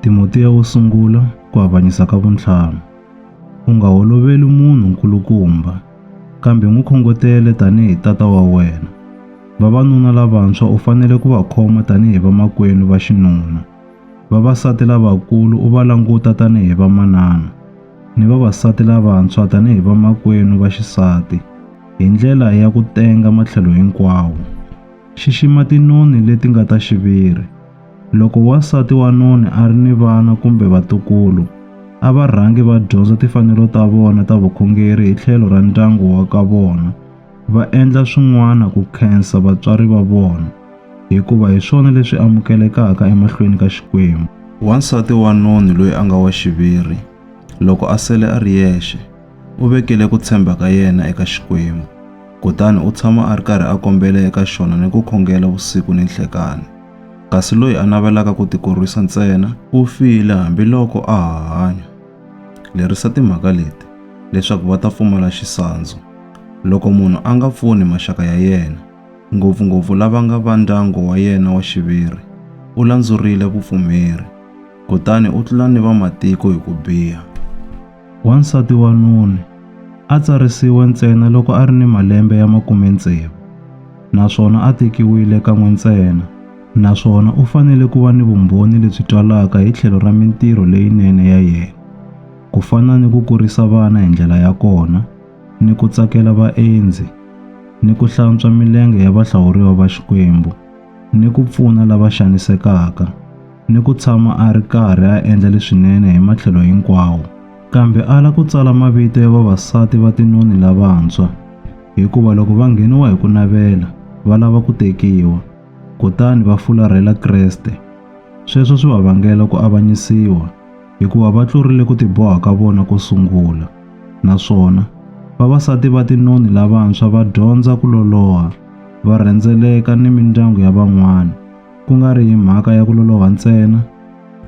Timotiya wo sungula ku avanyisa ka vuntlhanu. U nga holoveli munhu nkulukumba, kambe n'wi khongotele tanihi tata wa wena. Vavanuna lavantshwa u fanele ku va khoma tanihi vamakwenu va xinuna. Vavasati lavakulu u va languta tanihi vamanana, ni vavasati lavantshwa tanihi vamakwenu va xisati, hi ndlela ya ku tenga matlhelo hinkwawo. Xixima tinoni leti nga ta xiviri. Loko wansati wa noni a ri ni vana kumbe vatukulu, a va rhangi va dyondza tifanelo ta vona ta vukhongeri hi tlhelo ra ndyangu wa ka vona, va endla swin'wana ku khensa vatswari va vona, hikuva hi swona leswi amukelekaka emahlweni ka Xikwembu. Wansati wa noni loyi a nga wa xiviri, loko a sele a ri yexe, u vekile ku tshemba ka yena eka Xikwembu, kutani u tshama a ri karhi a kombela eka xona ni ku khongela vusiku ni nhlekani. Kasi loyi a navelaka ku tikorwisa ntsena u file hambiloko a ha hanya. Lerisa timhaka leti leswaku va ta pfumala xisandzu. Loko munhu a nga pfuni maxaka ya yena, ngopfu-ngopfu lava nga va ndyangu wa yena wa xiviri, u landzurile vupfumeri, kutani u tlula ni vamatiko hi ku biha. Wansati wa noni a tsarisiwe ntsena loko a ri ni malembe ya makume tsevu naswona a tekiwile kan'we ntsena naswona u fanele ku va ni vumbhoni lebyi twalaka hi tlhelo ra mintirho leyinene ya yena, ku fana ni ku kurisa vana hi ndlela ya kona, ni ku tsakela vaendzi, ni ku hlantswa milenge ya vahlawuriwa va Xikwembu, ni ku pfuna lava xanisekaka. ni ku tshama a ri karhi a endla leswinene hi matlhelo hinkwawo kambe ala ku tsala mavito ya vavasati va tinoni lavantshwa hikuva loko va ngheniwa hi ku navela va lava ku tekiwa kutani va fularhela Kreste sweswo swi va vangela ku avanyisiwa hikuva va tlurile ku tiboha ka vona ko sungula naswona vavasati va tinoni lavantshwa va dyondza ku loloha va rhendzeleka ni mindyangu ya van'wana ku nga ri mhaka ya ku loloha ntsena,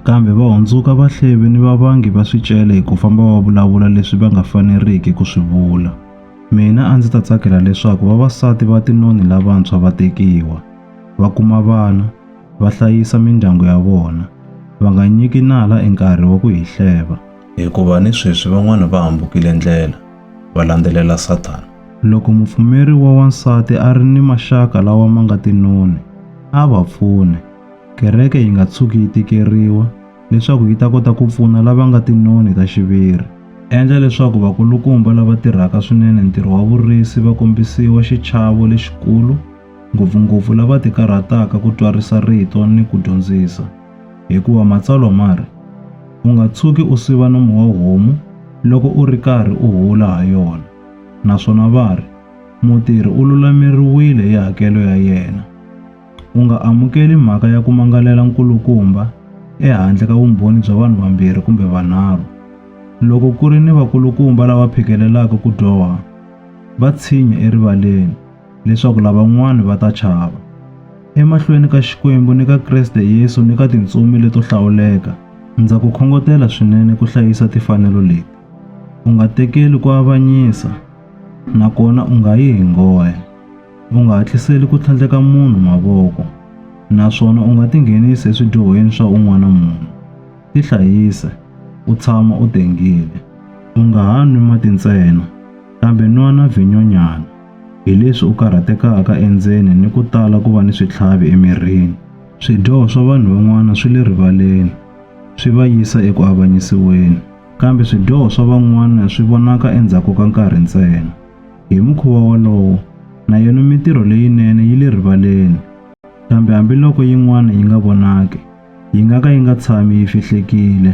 kambe va hundzuka vahlevi ni vavangi va swicele hi ku famba va vulavula leswi va nga faneriki ku swi vula. Mina a ndzi ta tsakela leswaku vavasati va tinoni lavantshwa va tekiwa, va kuma vana, va hlayisa mindyangu ya vona, va nga nyiki nala e nkarhi wa ku hi hleva. hikuva ni sweswi van'wana va hambukile ndlela va landzelela Sathana. Loko mupfumeri wa wansati a ri ni maxaka lawa ma nga tinoni, a va pfune. Kereke yi nga tshuki yi tikeriwa leswaku yi ta kota ku pfuna lava nga tinoni ta xiviri. Endla leswaku vakulukumba lava tirhaka swinene ntirho wa vurisi va kombisiwa xichavo lexikulu, ngopfu-ngopfu lava tikarhataka ku twarisa rito ni ku dyondzisa. Hikuva Matsalwa ma ri, U nga tshuki u siva nomu wa homu loko u ri karhi u hula ha yona, naswona va ri, Mutirhi u lulameriwile hi hakelo ya yena. U nga amukeli mhaka ya ku mangalela nkulukumba ehandle ka vumbhoni bya vanhu vambirhi kumbe vanharhu. Loko ku ri ni vakulukumba lava phikelelaka ku dyoha, va tshinya erivaleni. leswaku lavan'wana va ta chava. Emahlweni ka Xikwembu ni ka Kreste Yesu ni ka tintsumi leto hlawuleka, ndza ku khongotela swinene ku hlayisa tifanelo leti. U nga tekeli ku avanyisa, nakona u nga yi hi nghohe. U nga hatliseli ku tlhandleka munhu mavoko, naswona u nga tinghenisi eswidyohweni swa un'wana munhu. Tihlayise, u tshama u tengile. U nga ha nwi mati ntsena, kambe nwa na vhinyonyana. hi leswi u karhatekaka endzeni ni ku tala ku va ni switlhavi emirini. Swidyoho swa vanhu van'wana swi le rivaleni swi va yisa eku avanyisiweni, kambe swidyoho swa van'wana swi vonaka endzhaku ka nkarhi ntsena. Hi mukhuva wolowo, na yona mitirho leyinene yi le rivaleni, kambe hambiloko yin'wana yi nga vonaki, yi nga ka yi nga tshami yi fihlekile.